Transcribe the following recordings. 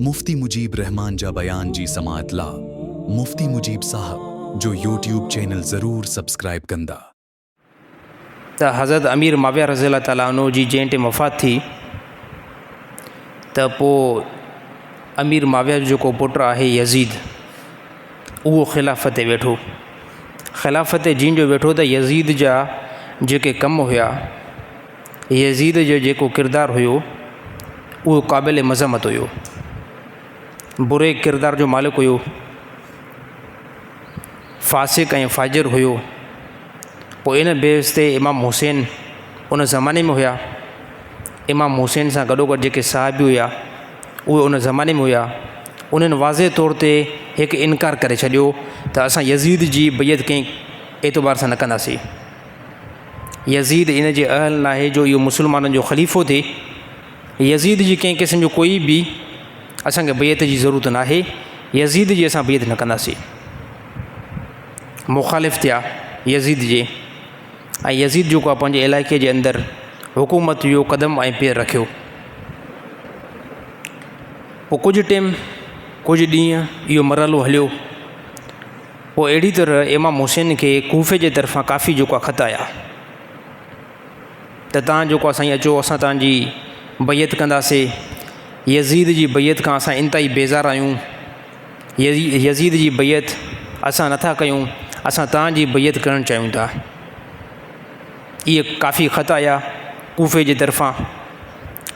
مفتي مجيب الرحمان جا بيان جي سماعت لا مفتي مجيب صاحب جو يوٽيوب چينل ضرور سبسڪرائب ڪندا. ته حضرت امير معاويه رضي الله تعالٰي عنه جي جنهن ٽيم وفات ٿي ته پوء امير معاويه جو جيڪو پٽ آهي يزيد اهو خلافت تي ويٺو خلافت تي جنهن جو ويٺو ته يزيد جا جيڪي ڪم هيا يزيد جو جيڪو ڪردار هيو اهو قابل مذمت هيو. بري ڪردار جو مالڪ هيو. فاسق ۽ فاجر هيو. پوء ان بيس تي امام حسين ان زماني ۾ هيا. امام حسين سان گڏوگڏ جيڪي صحابي هيا اهي ان زماني ۾ هيا. انهن واضح طور تي هڪ انڪار ڪري ڇڏيو ته اسان يزيد جي بيعت ڪنهن اعتبار سان نه ڪنداسين. يزيد ان جي اهل ناهي جو اهو مسلمانن جو خليفو ٿئي. يزيد جي ڪنهن قسم جو ڪوئي به اسان کي بيعت جي ضرورت ناهي. يزيد جي اسان بيعت نه ڪنداسين. مخالف ٿيا يزيد جي ۽ يزيد جيڪو آهي پنهنجي علائقي جي اندر حڪومت جو قدم ۽ پير رکيو. پوء ڪجهه ٽيم ڪجهه ڏينهن اهو مرحلو هليو. پوء اهڙي طرح امام حسين کي ڪوفي جي طرفان ڪافي جوڪا خط آيا ته تان جوڪا سائين اچو اسان تان جي بيعت ڪنداسي يزيد جي بيعت کان اسان انتهائي بيزار آهيون يزيد جي بيعت اسان نٿا ڪيون اسان تان جي بيعت ڪرڻ چاهيون ٿا اهي ڪافي خط آيا ڪوفي جي طرفان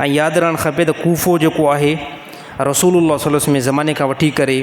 ۽ ياد رهڻ کپي ته ڪوفو جوڪو آهي رسول الله صلي الله عليه وسلم زماني کان وٺي ڪري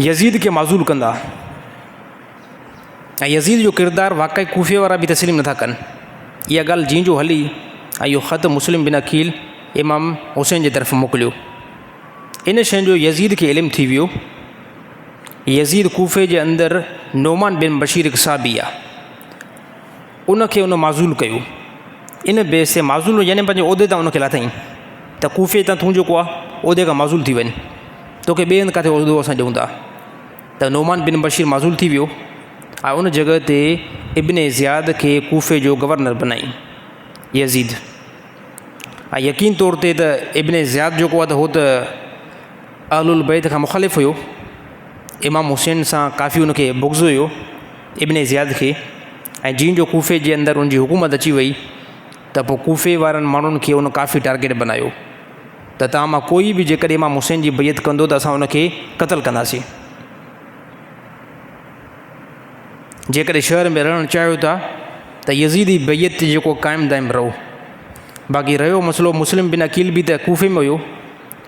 يزيد کي معزول ڪندا ۽ يزيد جو ڪردار واقعي ڪوفي وارا به تسليم نٿا ڪن اها ڳالهه جيئن جو هلي ۽ اهو خط مسلم بن عقيل امام حسين جي طرف موڪليو ان شين جو يزيد کي علم ٿي ويو يزيد ڪوفي جي اندر نعمان بن بشير صاحبي آهي ان کي ان معزول ڪيو. ان بي سي معزول يعني پنهنجي عهدي تان ان کي لاٿائين ته ڪوفي تان تون جيڪو آهه عهدي کان معزول ٿي وڃ. توکي ٻئي هنڌ ڪاٿي عهدو اسان ڏيون ٿا. ته نعمان بن بشير معزول ٿي ويو ۽ ان جڳهه تي ابن زياد کي ڪوفي جو گورنر بنائين يزيد. ۽ يقين طور تي ته ابن زياد جيڪو آهه ته هو ته اهل البيت کان مخالف هيو، امام حسين سان ڪافي ان کي بغض هيو، ابن زياد کي، ۽ جيئن جو ڪوفي جي اندر ان جي حڪومت اچي وئي ته پوء ڪوفي وارن ماڻهن کي ان ڪافي ٽارگيٽ بنايو ته توهان مان ڪوئي به جيڪڏهن امام حسين جي بيعت ڪندو ته اسان ان کي قتل ڪنداسين. جيڪڏهن شهر ۾ رهڻ چاهيو ٿا ته يزيدي بيعت تي جيڪو قائم دائم رهو. باقي رهيو مسئلو مسلم بن عقيل به ته ڪوفي ۾ هيو.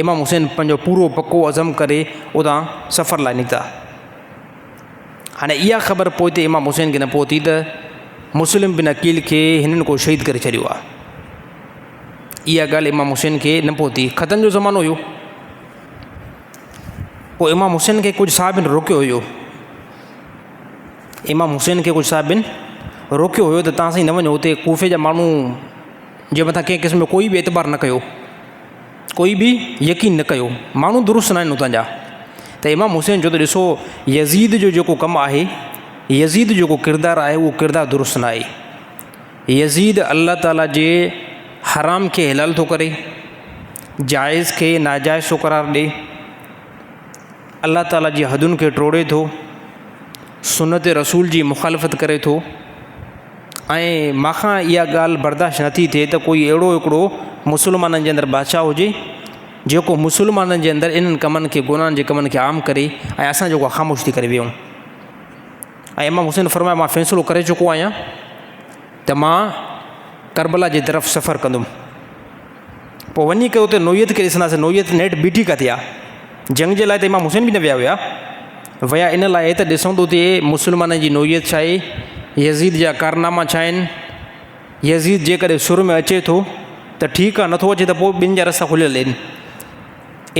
امام حسين پنهنجو پورو پڪو عزم ڪري اتان سفر لاء نڪتا. هاڻي اها خبر پوئتي امام حسين کي نه پهتي ته مسلم بن عقيل کي هنن ڪو شهيد ڪري ڇڏيو آهي. اها ڳالهه امام حسين کي نه پهتي. خطن جو زمانو هيو. پوء امام حسين کي ڪجهه صاحبن روڪيو هيو. امام حسين کي ڪجهه صاحبن روڪيو هيو ته تان سائين نه وڃو اتي ڪوفي جا ماڻهو جي مٿان ڪنهن قسم جو ڪوئي به اعتبار نه ڪيو. ڪوئي به يقين نه ڪيو، ماڻهو درست ناهن اتان جا. ته امام حسين چيو ته ڏسو يزيد جو جيڪو ڪم آهي، يزيد جيڪو ڪردار آهي اهو ڪردار درست نه آهي. يزيد الله تعاليٰ جي حرام کي حلال ٿو ڪري، جائز کي ناجائز ٿو قرار ڏي. الله تعالي جي حدن کي ٽوڙي ٿو، سنت رسول جي مخالفت ڪري ٿو ۽ مان کان اها ڳالهه برداشت نٿي ٿئي ته ڪوئي اهڙو هڪڙو مسلمانن جي اندر بادشاهه هجي جيڪو مسلمانن جي اندر انهن ڪمن کي گناهن جي ڪمن کي عام ڪري ۽ اسان جيڪو خاموش ٿي ڪري ويهون ۽ امام حسين فرمايو مان فيصلو ڪري چڪو آهيان ته مان کربلا جي طرف سفر ڪندم پوء وڃي ڪري اتي نوعيت کي ڏسنداسين، نوعيت نيٺ بيٺي ڪاٿي آ؟ جنگ جي لاء ته امام حسين به نه ويا هيا، ويا ان لاء ته ڏسون ته اتي مسلمانن جي نوعيت ڇا آهي، يزيد جا ڪارناما ڇا آهن، يزيد جيڪڏهن سر ۾ اچي ٿو ته ٺيڪ آ، نٿو اچي ته پوء ٻين جا رستا کليل آهن.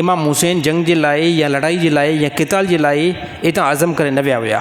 امام حسين جنگ جي لاء يا لڙائي جي لاء يا قتال جي لاء اتان عزم ڪري نه ويا هيا.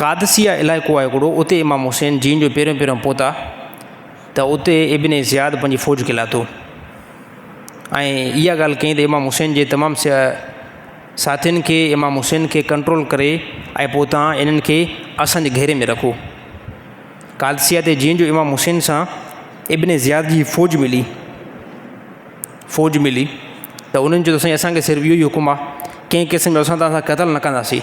قادسيه علائقو آهي هڪڙو، اتي امام حسين جين جو پهريون پهريون پهتا ته اتي ابن زياد پنهنجي فوج کي لاٿو ۽ اها ڳالهه ڪئي ته امام حسين جي تمام ساٿين کي امام حسين کي ڪنٽرول ڪري ۽ پوء تان انهن کي اسان جي گهيري ۾ رکو. قادسيه تي جين جو امام حسين سان ابن زياد جي فوج ملي فوج ملي ته انهن چيو ته سائين اسان کي صرف اهو ئي حڪم آهي ڪنهن قسم جو اسان تان سان قتل نه ڪنداسين.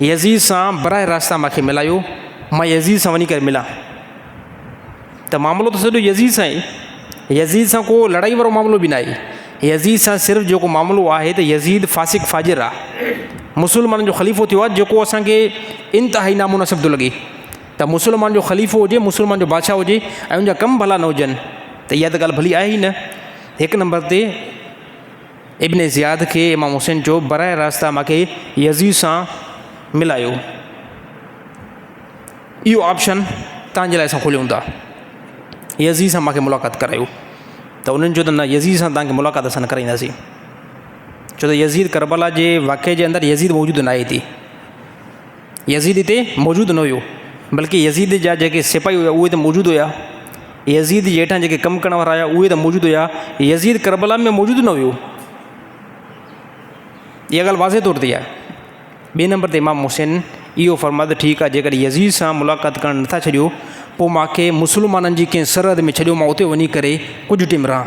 يزيد سان براه راست تان ماکي ملايو مان يزيد سان وڃي ڪري ملان ته معاملو ته سڄو يزيد سان ئي يزيد سان ڪو لڙائي وارو معاملو به ناهي يزيد سان صرف جيڪو معاملو آهي ته يزيد فاسق فاجر آهي مسلمانن جو خليفو ٿيو آهي جيڪو اسانکي انتهائي نامناسب ٿو لڳي ته مسلمان جو خليفو هجي مسلمان جو بادشاهه هجي ۽ ان جا ڪم ڀلا نه هجن ته اها ته ڳالهه ڀلي آهي ئي نه هڪ نمبر تي ابن زياد کي امام حسين چيو، براه راست مان کي يزيد سان ملايو. اهو آپشن توهان جي لاء اسان کوليون ٿا. يزيد سان مان کي ملاقات ڪرايو. ته انهن چيو ته نه يزيد سان توهان کي ملاقات اسان نه ڪرائينداسين. ڇو ته يزيد ڪربلا جي واقعي جي اندر يزيد موجود ناهي ٿي. يزيد اتي موجود نه هيو، بلڪ يزيد جا جيڪي سپاهي هيا اهي ته موجود هيا، يزيد جي هيٺان جيڪي ڪم ڪرڻ وارا هيا اهي ته موجود هيا، يزيد ڪربلا ۾ موجود نه هيو. اها ڳالهه واضح طور تي آهي. ٻئي نمبر تي امام حسين اهو فرمايو ته ٺيڪ آهي جيڪڏهن يزيد سان ملاقات ڪرڻ نٿا ڇڏيو پوء مان کي مسلمانن جي ڪنهن سرحد ۾ ڇڏيو مان اتي وڃي ڪري ڪجهه ٽيم رهان.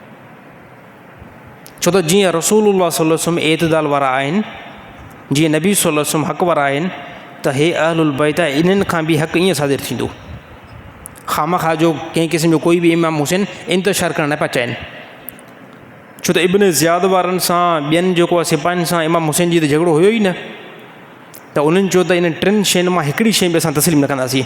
ڇو ته جيئن رسول الله صلي الله عليه وسلم اعتدال وارا آهن، جيئن نبي صلي الله عليه وسلم حق وارا آهن ته هي اهل البيت ۽ انهن کان به حق ائين صادر ٿيندو. خامخواه جو ڪنهن قسم جو ڪوئي به امام حسين انتشار ڪرڻ نه پيا چاهين. ڇو ته ابن زياد وارن سان ٻين جيڪو آهي سپاهين سان امام حسين جي ته جهڳڙو هيو ئي نه ته انهن چيو ته انهن ٽن شين مان هڪڙي شين به اسان تسليم نه ڪنداسين.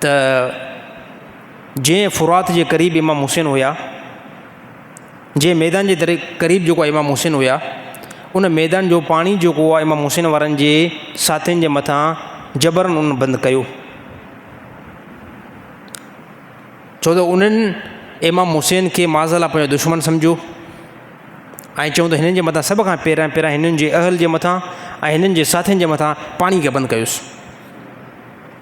ته جي فرات جي قريب امام حسين هيا، جي ميدان جي قريب جيڪو امام حسين هيا، ان ميدان جو پاڻي جيڪو آهي امام حسين وارن جي ساٿين جي مٿان جبرن ان بند ڪيو. ڇو ته انهن امام حسين کي معذالله پنهنجو دشمن سمجهيو ۽ چون ته هنن جي مٿان سڀ کان پهريان پهريان هنن جي اهل جي مٿان ۽ هنن جي ساٿين جي مٿان پاڻي کي بند ڪيوسين.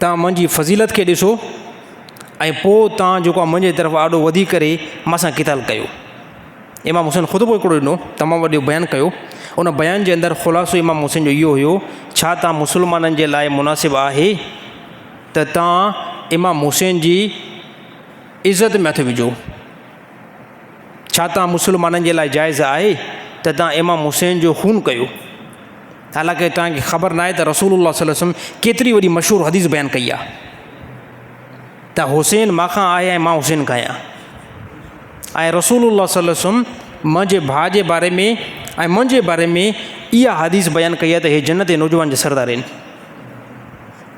توهان منهنجي فضيلت کي ڏسو ۽ پوء توهان جيڪو آهي منهنجي طرف آڏو وڌي ڪري مان سان قتال ڪيو. امام حسين خطبو هڪڙو ڏنو، تمام وڏو بيان ڪيو. ان بيان جي اندر خلاصو امام حسين جو اهو هيو، ڇا توهان مسلمانن جي لاء مناسب آهي ته توهان امام حسين جي عزت ۾ هٿ وجهو؟ ڇا توهان مسلمانن جي لاء جائز آهي ته توهان امام حسين جو خون ڪيو؟ حالانڪه توهان کي خبر ناهي ته رسول الله صلي الله عليه وسلم ڪيتري وڏي مشهور حديث بيان ڪئي آهي ته حسين مان کان آهي ۽ مان حسين کان آهيان ۽ رسول الله صلي الله عليه وسلم منهنجي ڀاء جي باري ۾ ۽ منهنجي باري ۾ اها حديث بيان ڪئي آهي ته هي جنت جي نوجوان جي سردار آهن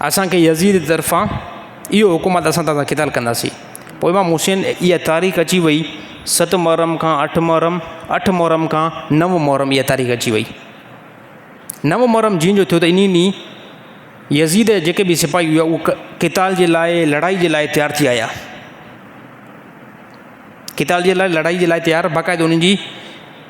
اسان کي يزيد جي طرفان اهو حڪم آهي ته اسان توهان سان قتال ڪنداسين. پوء امام حسين اها تاريخ اچي وئي ست محرم کان اٺ محرم، اٺ محرم کان نو محرم اها تاريخ اچي وئي. نو محرم جيئن جو ٿيو ته انهي ڏينهن يزيد جا جيڪي به سپاهي هئا اهي قتال جي لاء لڙائي جي لاء تيار ٿي آيا. قتال جي لاء لڙائي جي لاء تيار باقاعده انهن جي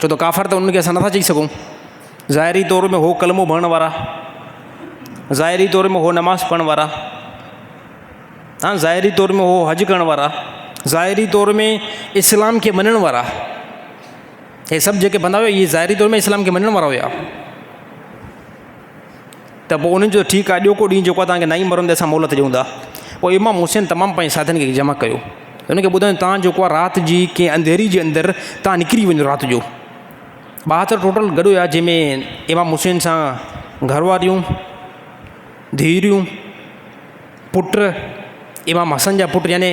ڇو ته ڪافر ته انهن کي اسان نٿا چئي سگهون. ظاهري طور ۾ هو ڪلمو پڙهڻ وارا، ظاهري طور ۾ هو نماز پڙهڻ وارا، ها ظاهري طور ۾ هو حج ڪرڻ وارا، ظاهري طور ۾ اسلام کي مڃڻ وارا. هي سڀ جيڪي بندا هيا اهي ظاهري طور ۾ اسلام کي مڃڻ وارا هيا. ته پوء انهن چيو، ٺيڪ آهي، ڏيو ڪو ڏينهن جيڪو توهان کي نائين مرندي اسان مهلت ڏيون ٿا. پوء امام حسين تمام پنهنجي ساٿين کي جمع ڪيو ۽ انهن کي ٻڌايو ته توهان جيڪو آهي رات جي ڪنهن انڌيري جي اندر توهان نڪري وڃو رات جو. ٻاهتر ٽوٽل گڏ هيا جنهن ۾ امام حسين سان گهر واريون، ڌيئريون، پٽ، امام حسن جا پٽ يعني،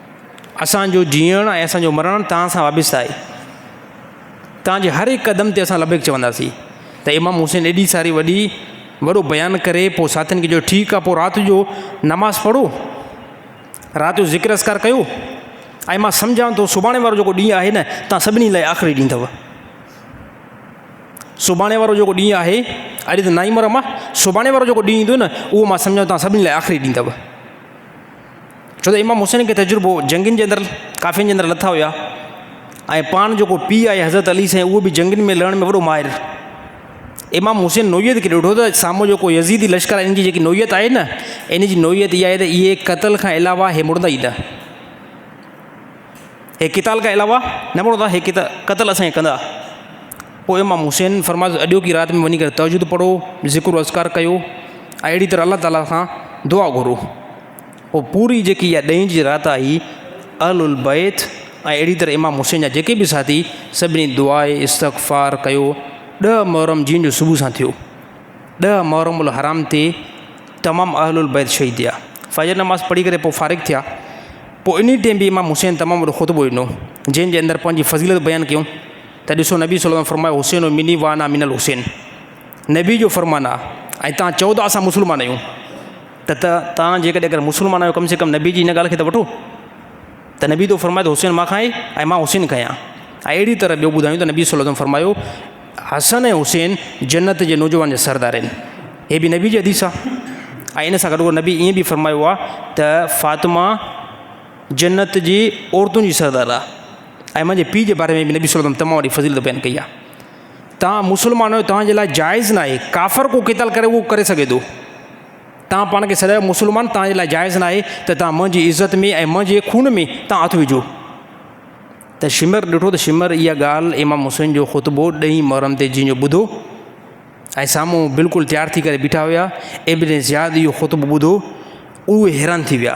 اسان جو جيئڻ ۽ اسان جو مرڻ توهان سان وابسته آهي. توهان جي هر هڪ قدم تي اسان لبيڪ چونداسين. ته امام حسين ايڏي ساري وڏي وڏو بيان ڪري پوء ساٿين کي چيو ٺيڪ آهي پوء رات جو نماز پڙهو. رات جو ذڪر اذڪار ڪيو. ۽ مان سمجهان ٿو سڀاڻي وارو جيڪو ڏينهن آهي نه توهان سڀني لاء آخري ڏينهن اٿو. سڀاڻي وارو جيڪو ڏينهن آهي اڄ ته نائين مرم آهي سڀاڻي وارو جيڪو ڏينهن ايندو نه اهو مان سمجهان ٿو توهان سڀني لاء آخري ڏينهن اٿو. ڇو ته امام حسين کي تجربو جنگين جي اندر ڪافين جي اندر لٿا هيا ۽ پاڻ جيڪو پيء آهي حضرت علي سائين اهو به جنگين ۾ لڙڻ ۾ وڏو ماهر امام حسين نوعيت کي ڏٺو ته سامهون جيڪو يزيدي لشڪر آهي ان جي جيڪي نوعيت آهي نه ان جي نوعيت اها آهي ته اهي قتل کان علاوه هي مڙندا ئي نه هي قتال کان علاوه نه مڙندا هي قتل اسان کي ڪندا پوء امام حسين فرمايو ته اڄوڪي رات ۾ وڃي ڪري تهجد پڙهو، ذڪر و اذڪار ڪيو ۽ اهڙي طرح الله تعاليٰ کان دعا گهرو. پوء پوري جيڪي اها ڏهين جي رات آهي، اهل البيت ۽ اهڙي طرح امام حسين جا جيڪي به ساٿي سڀني دعا استغفار ڪيو. ڏهه محرم جيئن جو صبح سان ٿيو. ڏهه محرم الحرام تي تمام اهل البيت شهيد ٿيا. فجر نماز پڙهي ڪري پوء فارغ ٿيا. پوء انهي ٽيم به امام حسين تمام وڏو خطبو ڏنو، جنهن جي اندر پنهنجي فضيلت بيان ڪيون. ته ڏسو نبي صلي الله عليه وسلم فرمايو حسين مني وانا من الحسين نبي جو فرمان آ ۽ توهان چئو ته اسان مسلمان آهيون ته ته توهان جيڪڏهن اگر مسلمان آهيو ڪم سي ڪم نبي جي هن ڳالهه کي ته وٺو ته نبي تو فرمايو ته حسين مان کائي ۽ مان حسين کيان اهڙي طرح ٻيو ٻڌايون ته نبي صلي الله عليه وسلم فرمايو حسن ۽ حسين جنت جي نوجوان جا سردار آهن هي به نبي جي حديث آ ۽ ان سان گڏو نبي ائين به فرمايو آ ته فاطمه جنت جي عورتن جي سردار آ ۽ منهنجي پيء جي باري ۾ به نبي صلي الله عليه وسلم تمام وڏي فضيلت بيان ڪئي آهي. توهان مسلمان آهيو توهان جي لاء جائز ناهي ڪافر ڪو قتال ڪري اهو ڪري سگهي ٿو توهان پاڻ کي سڏايو مسلمان توهان جي لاء جائز ناهي ته توهان منهنجي عزت ۾ ۽ منهنجي خون ۾ توهان هٿ وجهو ته شمر ڏٺو ته شمر اها ڳالهه امام حسين جو خطبو ڏهين محرم تي جنهن جو ٻڌو ۽ سامهون بلڪل تيار ٿي ڪري بيٺا هيا ابن زياد اهو خطبو ٻڌو اهي حيران ٿي ويا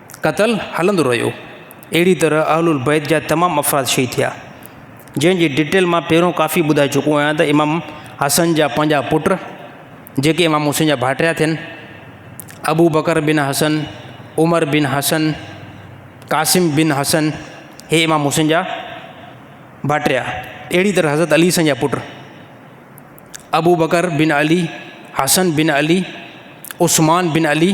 قتل هلندو رهيو. اهڙي طرح اهل البيت جا تمام افراد شهيد ٿيا. جنهن جي ڊيٽيل مان پهريون ڪافي ٻڌائي چڪو آهيان ته امام حسن جا پنجاهه پٽ جيڪي امام حسين جا ڀائٽيا ٿين، ابو بڪر بن حسن، عمر بن حسن، قاسم بن حسن هي امام حسين جا ڀائٽيا. اهڙي طرح حضرت علي حسن جا پٽ ابو بڪر بن علي، حسن بن علي، عثمان بن علي،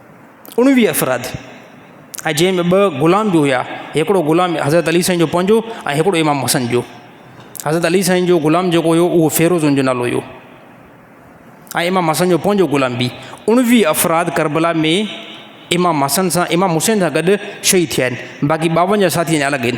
اڻويهه افراد ۽ جنهن ۾ ٻه غلام به هيا هڪڙو غلام حضرت علي سائين جو پنهنجو ۽ هڪڙو امام حسن جو حضرت علي سائين جو غلام جيڪو هيو اهو فيروز ان جو نالو هيو ۽ امام حسن جو پنهنجو غلام به اڻويهه افراد ڪربلا ۾ امام حسن سان امام حسين سان گڏ شهيد ٿيا آهن باقي ٻاونجاهه ساٿي اڃا الڳ آهن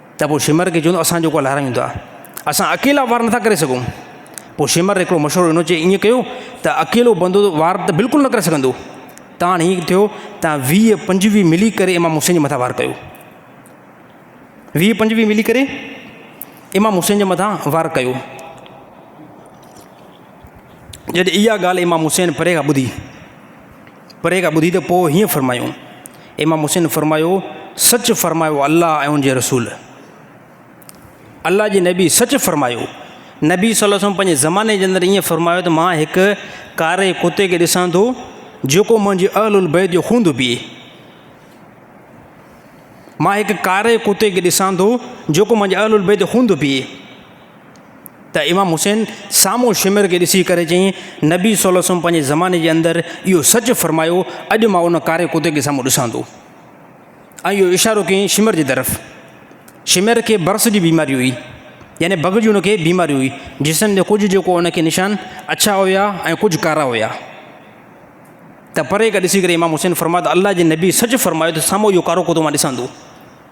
ته پوء شمر کي چوندو اسان جوڪو الارم ايندو آهي اسان اڪيلا وار نٿا ڪري سگهون پوء شمر هڪڙو مشورو ڏنو چي ائين ڪيو ته اڪيلو بندو وار ته بلڪل نه ڪري سگهندو ته هاڻي ائين ٿيو ته ويهه پنجويهه ملي ڪري امام حسين جي مٿان وار ڪيو ويهه پنجويهه ملي ڪري امام حسين جي مٿان وار ڪيو جڏهن اها ڳالهه امام حسين پري کان ٻڌي پري کان ٻڌي ته پوء هيئن فرمايون. امام حسين فرمايو، سچ فرمايو الله ۽ ان جي رسول. الله جي نبي سچ فرمايو. نبي صلي الله عليه وسلم پنهنجي زماني جي اندر ائين فرمايو ته مان هڪ ڪاري ڪتي کي ڏسان ٿو جيڪو منهنجي اهل البيت جو خون ٿو پيئي. مان هڪ ڪاري ڪتي کي ڏسان ٿو جيڪو منهنجي اهل البيت جو خون ٿو پيئي. ته امام حسين سامهون شمر کي ڏسي ڪري چيائين، نبي صلي الله عليه وسلم پنهنجي زماني جي اندر اهو سچ فرمايو، اڄ مان ان ڪاري ڪتي کي سامهون ڏسان ٿو. ۽ اهو اشارو ڪيائين شمر جي طرف. شمر کي برس جي بيماري هئي. يعني بگهه جي ان کي بيماري هئي. جسم جا ڪجهه جيڪو ان کي نشان اڇا هيا ۽ ڪجهه ڪارا هيا. ته پري کان ڏسي ڪري امام حسين فرمايو ته الله جي نبي سچ فرمايو ته سامهون اهو ڪارو ڪتو مان ڏسان ٿو.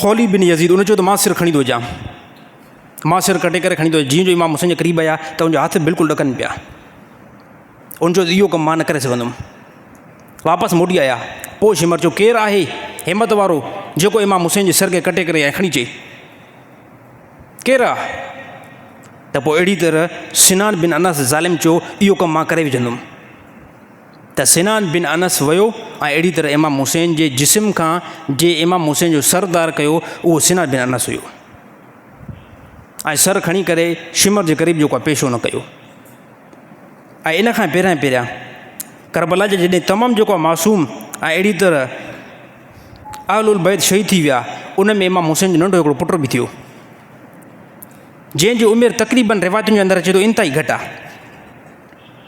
خولي بن يزيد ان چيو ته مان سر کڻي ٿو اچان مان سر ڪٽي ڪري کڻي ٿو جيئن جو امام حسين جي قريب آيا ته ان جا هٿ بلڪل ڏڪن پيا ان چيو ته اهو ڪم مان نه ڪري سگهندم واپس موٽي آيا پوء شمر چيو ڪير آهي همت وارو جيڪو امام حسين جي سر کي ڪٽي ڪري ۽ کڻي چي ڪير آهي ته پوء اهڙي طرح سنان بن انس ظالم چيو اهو ڪم مان ڪري وجهندم ته سنان بن انس ويو ۽ اهڙي طرح امام حسين جي جسم کان جي امام حسين جو سر ڌار ڪيو اهو سنان بن انس هيو ۽ سر کڻي ڪري شمر جي قريب جيڪو پيشو نه ڪيو ۽ ان کان پهريان پهريان کربلا جي جڏهن تمام جيڪو معصوم ۽ اهڙي طرح اهل البيت شهيد ٿي ويا ان ۾ امام حسين جو ننڍو هڪڙو پٽ به ٿيو جنهن جي عمر تقريبن روايتن جي اندر اچي ٿو انتهائي گهٽ آهي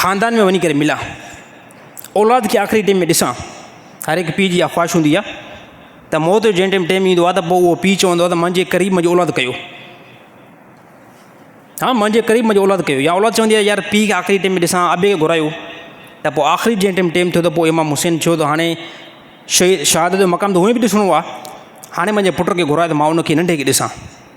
خاندان ۾ وڃي ڪري ملان. اولاد کي آخري ٽيم ۾ ڏسان. هر هڪ پيء جي اها خواهش هوندي آهي ته موت جو جنهن ٽيم ٽيم ايندو آهي ته پوء اهو پيء چوندو آهي ته منهنجي قريب منهنجي اولاد ڪيو. ها منهنجي قريب منهنجي اولاد ڪيو يا اولاد چوندي آهي يار پيء کي آخري ٽيم ۾ ڏسان ابي کي گهرايو ته پوء آخري جنهن ٽيم ٽيم ٿيو ته پوء امام حسين ٿيو ته هاڻي شهيد شهادت جو مقام ته هونئن به ڏسڻو آهي هاڻي منهنجي پٽ کي گهرايو ته مان ان کي ننڍي کي ڏسان.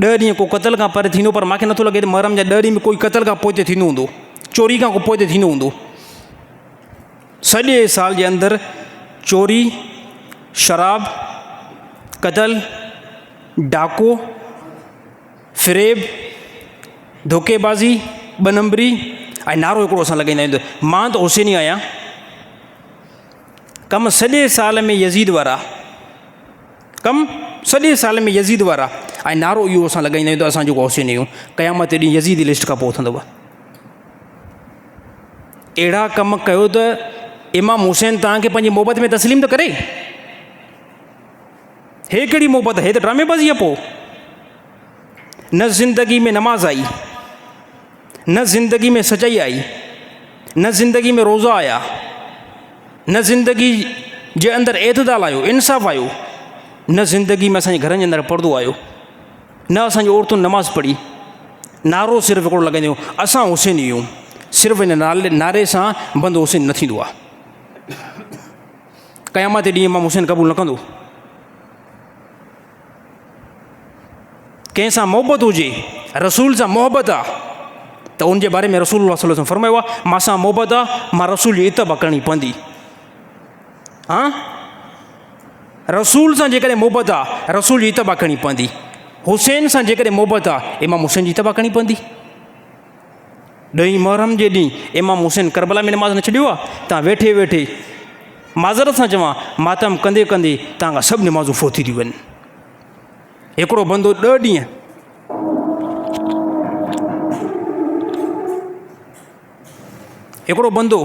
ڏهه ڏينهن ڪو قتل کان پري ٿيندو پر مان کي نٿو لڳي ته محرم جا ڏهه ڏينهن به ڪوئي قتل کان پوئتي ٿيندو هوندو. چوري کان ڪو پوئتي ٿيندو هوندو. سڄي سال جي اندر چوري، شراب، قتل، ڊاڪو، فريب، ڌوڪي بازي، ٻه نمبري ۽ نعرو هڪڙو اسان لڳائيندا آهيون ته مان ته حسيني آهيان. ڪم سڄي سال ۾ يزيد وارا. ڪم، سڄي سال ۾ يزيد وارا ۽ نعرو اهو اسان لڳائيندا آهيون ته اسان جيڪو حسين آهيون، قيامت جي ڏينهن يزيد جي لسٽ کان پوء اٿندو. اهڙا ڪم ڪيو ته امام حسين توهان کي پنهنجي محبت ۾ تسليم ته ڪري. هي ڪهڙي محبت هي ته ڊرامي بازي پوء نه زندگي ۾ نماز آئي. نه زندگي ۾ سچائي آئي، نه زندگي ۾ روزا آيا، نه زندگي جي اندر اعتدال آيو، انصاف آيو، نه زندگي ۾ اسان گھرن جي اندر پردو آيو، نه اسان جي عورتن نماز پڙھي، نعرو صرف ھڪڙو لڳنديون اسان حسين يون، صرف ان نالي نعري سان بند حسين نه ٿيندو آ. قيامت جي ڏينھن امام حسين قبول نه ڪندو. ڪنهن سان محبت هجي رسول سان محبت آ ته ان جي باري ۾ رسول الله صلي الله عليه وسلم فرمايو آ مان سان محبت آ مان رسول جي اتباع ڪرڻي پوندي ها رسول سان جيڪڏهن محبت آ رسول جي اتباع ڪرڻي پوندي حسين سان جيڪڏهن محبت آ امام حسين جي اتباع ڪرڻي پوندي ڏهين محرم جي ڏينهن امام حسين ڪربلا ۾ نماز نه ڇڏيو آ تان ويٺي ويٺي معذرت سان چوان ماتم ڪندي ڪندي تان کان سڀ نمازون فوتي ٿيون وين هڪڙو بندو ڏه ڏينهن هڪڙو بندو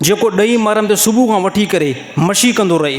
جيڪو ڏهين محرم تي صبح کان وٺي ڪري مشي ڪندو رهي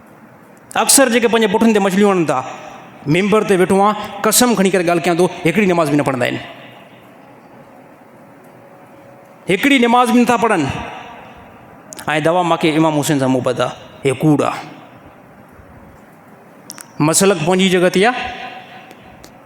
اڪثر جيڪي پنهنجي پٺن تي مڇليون هڻن ٿا، ممبر تي ويٺو آهيان، قسم کڻي ڪري ڳالهه ڪيان ٿو، هڪڙي نماز به نه پڙهندا آهن. هڪڙي نماز به نٿا پڙهن. ۽ دوا ماکي امام حسين سان محبت آهي. هي ڪوڙ آهي. مسلڪ پنهنجي جڳهه تي آهي.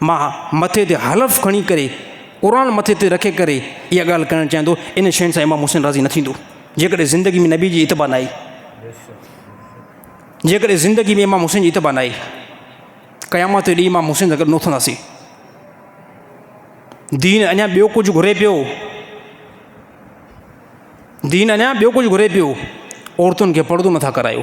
مان مٿي تي حلف کڻي ڪري، قرآن مٿي تي رکي ڪري اها ڳالهه ڪرڻ چاهيان ٿو، ان شين سان امام حسين راضي نه ٿيندو، جيڪڏهن زندگي ۾ نبي جي اتباع نه آئي، جيڪڏهن زندگي ۾ امام حسين جي اتباع نه آئي، قيامت جو ڏينهن امام حسين سان گڏ نه اٿنداسين. دين اڃا ٻيو ڪجهه گهري پيو دين اڃا ٻيو ڪجهه گهري پيو عورتن کي پڙدو نٿا ڪرايو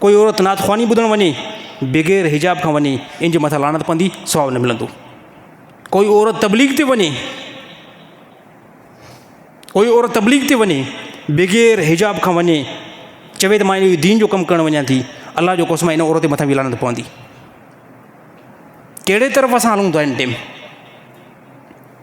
ڪوئي عورت نعت خواني ٻڌڻ وڃي بغير حجاب کان وڃي ان جي مٿان لعنت پوندي ثواب نه ملندو ڪوئي عورت تبليغ تي وڃي ڪوئي عورت تبليغ تي وڃي بغير حجاب کان وڃي چوي ته ماں انهي دين جو ڪم ڪرڻ وڃان ٿي الله جو قسم ان عورت جي مٿان به لعنت پوندي ڪهڙي طرف اسان هلون ٿا ان ٽيم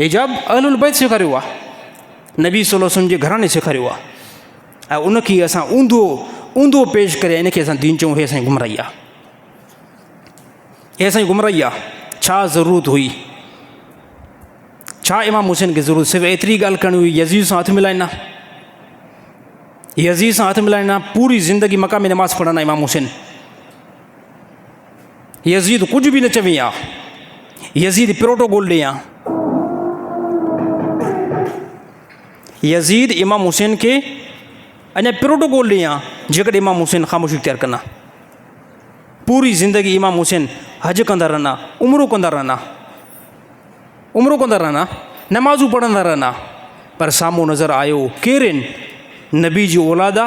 حجاب اهل البيت سيکاريو آ نبي صلي الله وسلم جي گھراڻي سيکاريو آ ۽ ان کي اسان اوندو اوندو پيش ڪري ان کي اسان دين چون هي اسان گمراهي آ هي اسان گمراهي آ ڇا ضرورت هئي ڇا امام حسين کي ضرورت صرف ايتري ڳالهه ڪرڻي هئي يزيد سان هٿ ملائنا يزيد سان هٿ ملائنا پوري زندگي مقام نماز پڙهنا امام حسين يزيد ڪجهه به نه چوي ها. يزيد پروٽوڪول ڏي ها. يزيد امام حسين کي اڃا پروٽوڪول ڏي ها جيڪڏهن امام حسين خاموشي اختيار ڪن ها پوري زندگي امام حسين حج ڪندا رهن ها عمرو ڪندا رهن ها عمرو ڪندا رهن ها نمازون پڙهندا رهن ها پر سامهون نظر آيو ڪير آهن نبي جي اولاد آ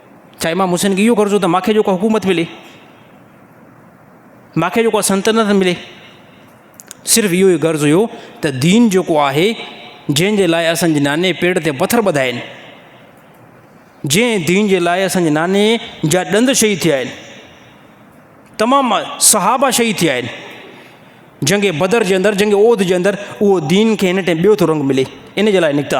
ڇا امام حسين کي اهو غرض هو ته ماکي جو ڪا حڪومت ملي، ماکي جو ڪا سلطنت ملي، صرف اهو ئي غرض هيو ته دين جيڪو آهي جنهن جي لاء اسان جي ناني پيڙ تي پٿر ٻڌا آهن، جنهن دين جي لاء اسان جي ناني جا ڏند شهيد ٿيا آهن، تمام صحابا شهيد ٿيا آهن، جنگ بدر جي اندر جنگ عهد جي اندر اهو دين کي هن ٽائم ٻيو ٿو رنگ ملي ان جي لاء نڪتا.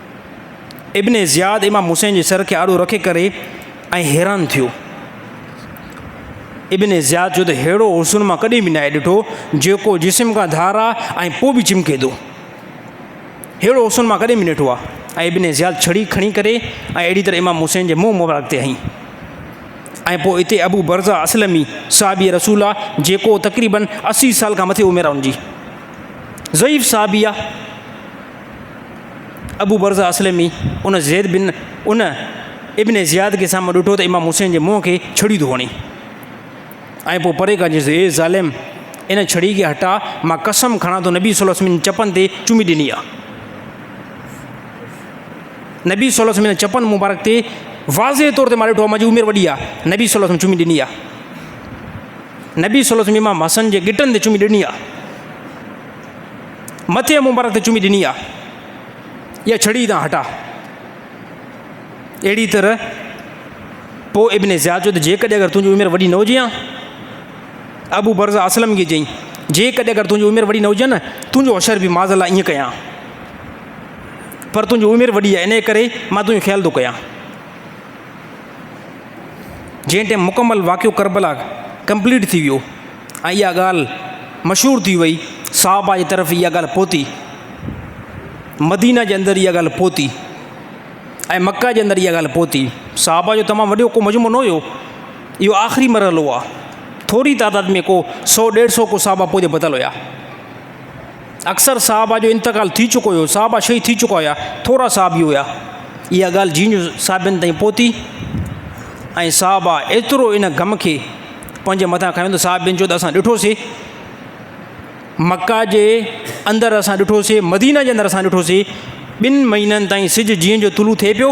ابن زياد امام حسين جي سر کي آڏو رکي ڪري ۽ حيران ٿيو ابن زياد جو ته ههڙو حسن مان ڪڏهن به ناهي ڏٺو جيڪو جسم کان ڌارا ۽ پوء به چمڪي ٿو ههڙو حسن مان ڪڏهن به ڏٺو آ ۽ ابن زياد چھڙي کڻي ڪري ۽ اهڙي طرح امام حسين جي منهن مبارڪ تي هئي ۽ پوء اتي ابو برزا اسلمي صحابي رسول آ جيڪو تقريبن اسي سال کان مٿي عمر آ ان جي ضعيف صحابي آ ابو برزة اسلمي ان زيد بن ان ابن زياد کي سامهون ڏٺو ته امام حسين جي منهن کي ڇڙي ٿو هڻي ۽ پوء پري کان چيس اي ظالم ان ڇڙي کي هٽا مان قسم کڻان ٿو نبي صلي الله عليه وسلم چپن تي چمي ڏني آ نبي صلي الله عليه وسلم چپن مبارڪ تي واضح طور تي مان ڏٺو منهنجي عمر وڏي آ نبي صلي الله عليه وسلم چمي ڏني آ نبي صلي الله عليه وسلم امام حسن جي ڳٽن تي چمي ڏني آ مٿي ۽ مبارڪ تي چمي ڏني آ يا ڇڙي تان هٽا اهڙي طرح پو ابن زياد جو ته جيڪڏهن اگر تنهنجي عمر وڏي نه هجي آ ابو برز اسلم کي چئي جيڪڏهن اگر تنهنجي عمر وڏي نه هجي نه تنهنجو حشر به معذ الله ائين ڪيان پر تنهنجي عمر وڏي آ ان ڪري مان تنهنجو خيال ٿو ڪيان جنهن ٽائم مڪمل واقعو کربلا ڪمپليٽ ٿي ويو ۽ اها ڳالهه مشهور ٿي وئي، صحابه جي طرف اها ڳالهه پهتي، مدينه جي اندر اها ڳالهه پهتي ۽ مڪه جي اندر اها ڳالهه پهتي. صحابه جو تمام وڏو ڪو مجموعو نه هيو، اهو آخري مرحلو آهي، ٿوري تعداد ۾ ڪو سؤ ڏيڍ سؤ ڪو صحابه پوء جو پتل هيا. اڪثر صاحبه جو انتقال ٿي چڪو هيو، صاحبه شهيد ٿي چڪا هيا، ٿورا صاحبي هيا. اها ڳالهه جين جو صاحبين تائين پهتي ۽ صاحبه ايترو ان غم کي پنهنجي مٿان کنيو ته صاحبين چيو ته اسان ڏٺوسي مڪه جي اندر اسان ڏٺوسي مدينه جي اندر اسان ڏٺوسي ٻن مهينن تائين سج جين جو طلوع ٿئي پيو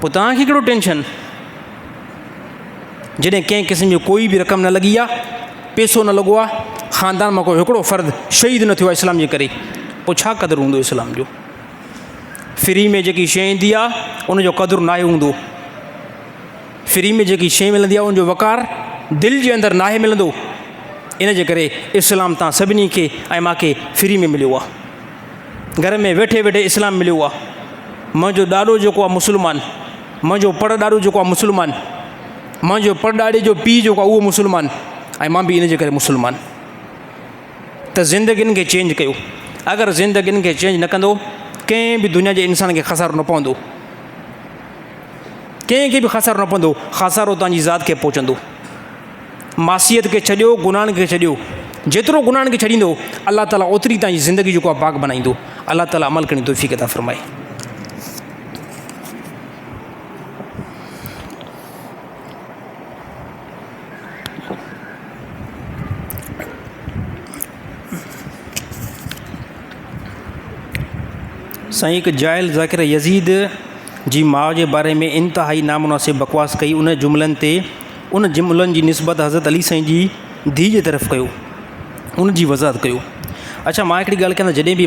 پوء توهان کي ڪهڙو ٽينشن؟ جڏهن ڪنهن قسم جو ڪوئي به رقم نه لڳي آهي، پيسو نه لڳو آهي، خاندان مان ڪو هڪڙو فرد شهيد نه ٿيو آهي اسلام جي ڪري، پوء ڇا قدر هوندو اسلام جو؟ فري ۾ جيڪي شيء ايندي آهي ان جو قدر ناهي هوندو. فري ۾ جيڪي شيء ملندي آهي ان جو وقار دل جي اندر ناهي ملندو. ان جي ڪري اسلام تان سڀني کي ۽ مان کي فري ۾ مليو آهي. گهر ۾ ويٺي ويٺي اسلام مليو آ منهنجو ڏاڏو جيڪو آ مسلمان منهنجو پڙ ڏاڏو جيڪو آ مسلمان منهنجو پڙ ڏاڏي جو پي جيڪو آ اهو مسلمان ۽ مان به ان جي ڪري مسلمان ته زندگين کي چينج ڪيو اگر زندگين کي چينج نه ڪندو ڪنهن به دنيا جي انسان کي خسارو نه پوندو ڪنهن کي به خسارو نه پوندو خسارو تنهنجي ذات کي پهچندو معصيت کي ڇڏيو گناھن کي ڇڏيو جيترو گناھن کي ڇڏيندو الله تعالي اوتري تنهنجي زندگي جيڪو آ پاڪ بنائيندو الله تعالي عمل ڪرڻ جي توفيق عطا فرمائي. سائين هڪ جاهل ذاڪر يزيد جي ماء جي باري ۾ انتهائي نامناسب بڪواس ڪئي ان جملن تي ان جملن جي نسبت حضرت علي سائين جي ڌيء جي طرف ڪيو ان جي وضاحت ڪيو اچا مان هڪڙي ڳالهه ڪيان ته جڏهن بي